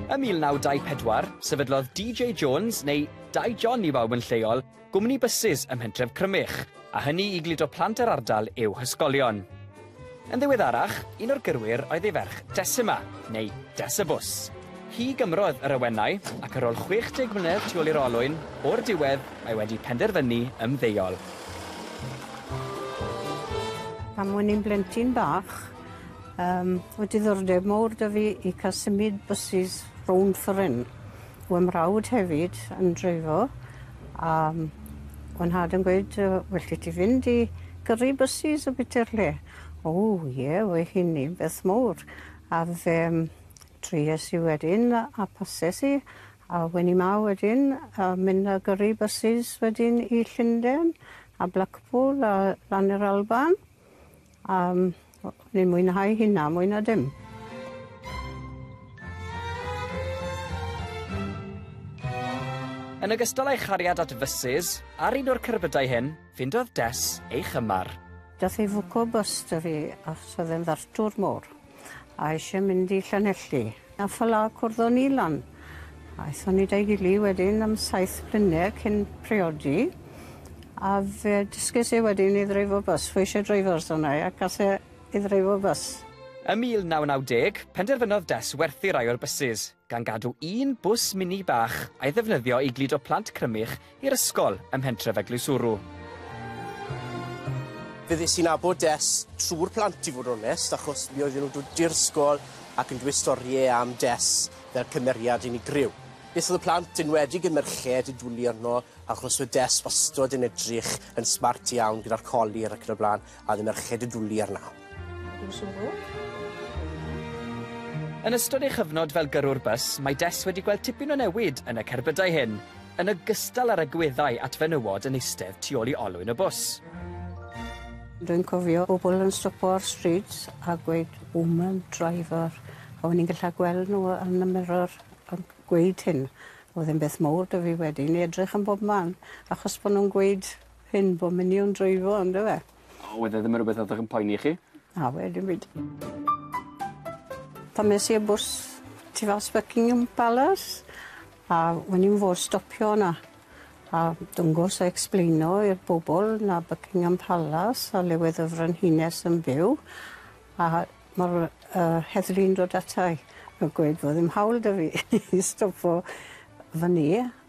Ym 1924, sefydlodd DJ Jones, neu Dai John i bawb yn lleol, gwmni bysus ym mhentref Crymych, a hynny i gludo plant yr ardal i'w hysgolion. Yn ddiweddarach, un o'r gyrwyr oedd ei ferch Decima, neu Desibws. Hi gymrodd yr awenau, ac ar ôl 60 mlynedd tu ôl i'r olwyn, o'r diwedd, mae wedi penderfynu ymddeol. Pan o'n i'n blentyn bach, yym, oedd diddordeb mowr 'da fi i cael symud bysus rownd fforyn. Wedd mrawd hefyd yn dreifo, a yym, wedd nhad yn gweud yy, well 'da ti fynd i gyrru bysus a bwyta'r lle. O ie, wedd hynny'n beth mowr. A fe yym Trues i wedyn a pases i a wen i 'ma wedyn a mynd a gyrru bysus wedyn i Llunden a Blackpool a lan i'r Alban a yym o- o'n i'n mwynhau hynna mwy na dim. Yn ogystal â'i chariad at fysus, ar un o'r cerbydau hyn, ffindodd Des ei chymar. Dath ei fwco bys 'da fi achos o'dd e'n ddartwr mor. A eisiau mynd i Llanelli. A fela cwrddon ni lan. Aethon ni da'i gili wedyn am saith blynedd cyn priodi. A fe dysges i wedyn i ddreifo bys. Fe eisiau dreifo ers hwnna a gas e i ddreifo bys. Ym 1990, penderfynodd Des werthu rai o'r bysus. gan gadw un bws mini bach a'i ddefnyddio i gludo plant Crymych i'r ysgol ym mhentref Eglwyswrw. Fe ddes i'n abod Des trwy'r plant i fod yn onest, achos mi oedden nhw'n dod i'r ysgol ac yn dweud storiau am Des fel cymeriad unigryw. Beth oedd y plant, enwedig y merched, yn dwlu arno, achos oedd Des wastod yn edrych yn smart iawn gyda'r colir ac yn y blaen. A oedd y merched yn dwli arna. Dwi'n siŵr. Yn ystod ei chyfnod fel gyrrwr bws, mae Des wedi gweld tipyn o newid yn y cerbydau hyn, yn ogystal â'r agweddau at fenywod yn eistedd tu ôl i olwyn y bws. Dwi'n cofio pobl yn stopo ar stryd a gweud 'woman driver'. A o'n i'n gallu gweld nhw yn y mirror yn gweud hyn. Oedd e'n beth mowr 'da fi wedyn i edrych yn bob man achos bod nhw'n gweud Hyn bo minion dreifo on'd yfe? O wedd e ddim yn rwbeth oddech yn poeni chi? Na wedd dim byd. Pan es i â bws tu fas Buckingham Palace a wen i'm fod stopio 'na a dwngos a explaino i'r bobol na Buckingham Palace a le wedd y frenhines yn byw a ma'r yy yy heddlu'n dod ata i a gweud bo' ddim hawl 'dy fi i stopo fyn 'ny.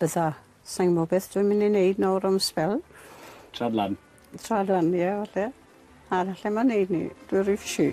Bydda. Sai'n gwbo beth dwi'n myn' i neud nawr am sbel. Traed lan. Traed lan ie falle. A na lle ma' neud 'ny. Dwi ry fishi.